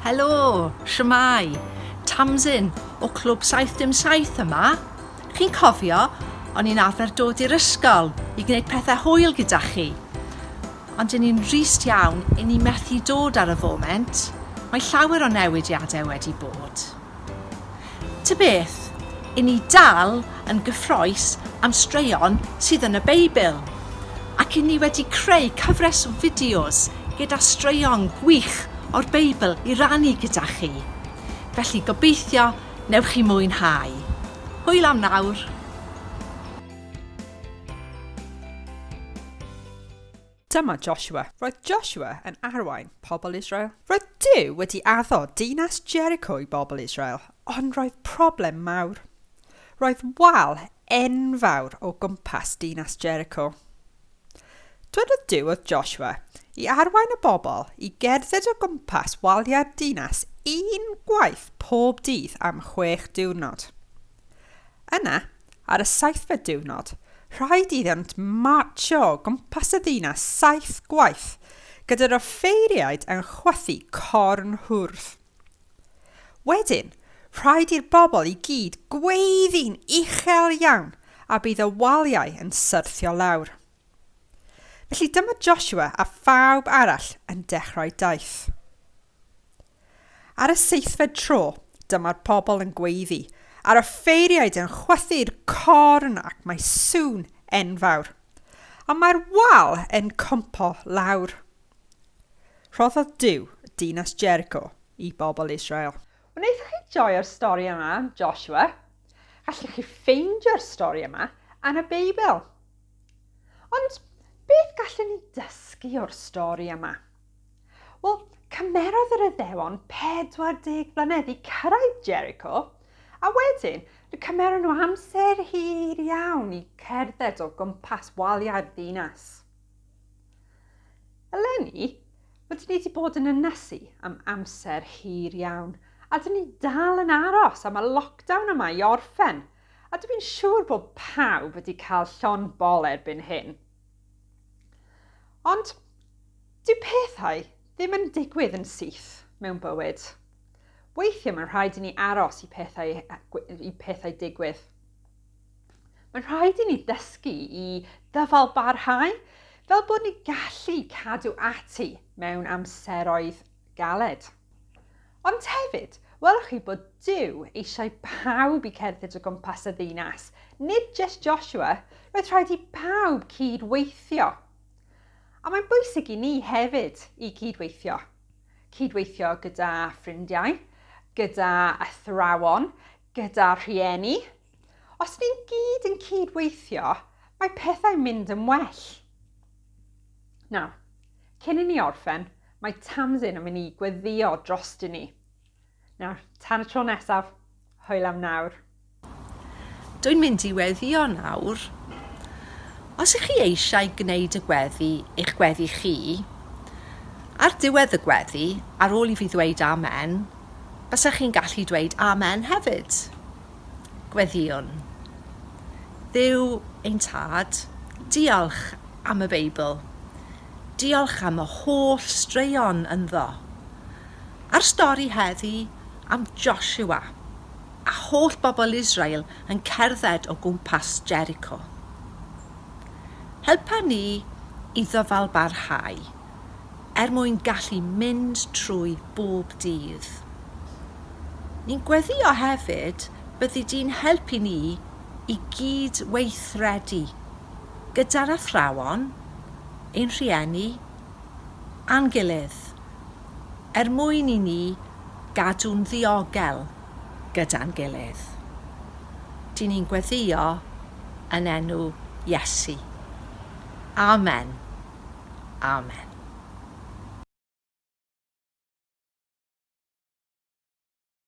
Helo, siwmai, Tamsin o Clwb 777 yma. Chi'n cofio, o'n i'n arfer dod i'r ysgol i gwneud pethau hwyl gyda chi. Ond yn ni'n rhist iawn, yn ni methu dod ar y foment. Mae llawer o newidiadau wedi bod. Ta beth, i ni dal yn gyffrous am straeon sydd yn y Beibl, ac i ni wedi creu cyfres o fideos gyda straeon gwych o'r Beibl i rannu gyda chi. Felly gobeithio newch chi mwynhau. Hwyl am nawr! Dyma Joshua. Roedd Joshua yn arwain pobl Israel. Roedd Duw wedi addo dinas Jericho i bobl Israel, ond roedd problem mawr. Roedd wal enfawr o gwmpas dinas Jericho. Dwedodd Duw oedd Joshua i arwain y bobl i gerdded o gwmpas waliau'r dinas un gwaith pob dydd am chwech diwrnod. Yna, Ar y seithfed diwrnod, rhaid iddynt martsio o gwmpas y ddinas saith gwaith, gyda'r offeiriaid yn chwythu corn hwrdd. Wedyn, rhaid i'r bobl i gyd gweiddi'n uchel iawn a bydd y waliau yn syrthio lawr. Felly dyma Joshua a phawb arall yn dechrau daith. Ar y seithfed tro, dyma'r pobl yn gweiddi, a'r offeiriaid yn chwythu'r corn ac mae sŵn enfawr. Ond mae'r wal yn cwympo lawr. Rhoddodd Duw dinas Jericho i bobl Israel. Wnaethoch chi joio'r stori yma am Joshua? Gallwch chi ffeindio'r stori yma yn y Beibl. Ond beth gallwn ni dysgu o'r stori yma? Wel, cymerodd yr Iddewon 40 mlynedd i cyrraedd Jericho, a wedyn fe cymeron nhw amser hir iawn i cerdded o gwmpas waliau'r ddinas. Eleni, rydyn ni wedi bod yn ynysu am amser hir iawn, a dyn ni dal yn aros am y lockdown yma i orffen, a dwi'n siŵr bod pawb wedi cael llon bol erbyn hyn. Ond dyw pethau ddim yn digwydd yn syth mewn bywyd. Weithiau mae'n rhaid i ni aros i pethau, i pethau digwydd. Mae'n rhaid i ni ddysgu i ddyfal barhau fel bod ni gallu cadw ati mewn amseroedd galed. Ond hefyd, welwch chi bod Duw eisiau pawb i cerdded o gwmpas y ddinas, nid jyst Joshua, roedd rhaid i pawb cyd-weithio. A mae'n bwysig i ni hefyd i cyd-weithio. Cyd-weithio gyda ffrindiau, gyda athrawon, gyda rhieni. Os ni'n gyd yn cyd-weithio, mae pethau'n mynd yn well. Nawr, cyn i ni orffen, Mae Tamsin yn mynd i gweddio drost i ni. Nawr, tan y tro nesaf, hwyl am nawr. Dwi'n mynd i weddio nawr. Os ych chi eisiau gwneud y gweddi, eich gweddi chi, ar diwedd y gweddi, ar ôl i fi ddweud amen, bysach chi'n gallu dweud amen hefyd. Gweddiwn. Dduw ein Tad, diolch am y Beibl. Diolch am y holl straeon ynddo. A'r stori heddi am Joshua a holl bobl Israel yn cerdded o gwmpas Jericho. Helpa ni i ddyfalbarhau er mwyn gallu mynd trwy bob dydd. Ni'n gweddio hefyd byddi di'n helpu ni i gyd-weithredu. gyda'r athrawon, ein rhieni, a'n gilydd, er mwyn i ni gadw'n ddiogel gyda'n gilydd. Dŷn ni'n gweddio yn enw Iesu. Amen. Amen.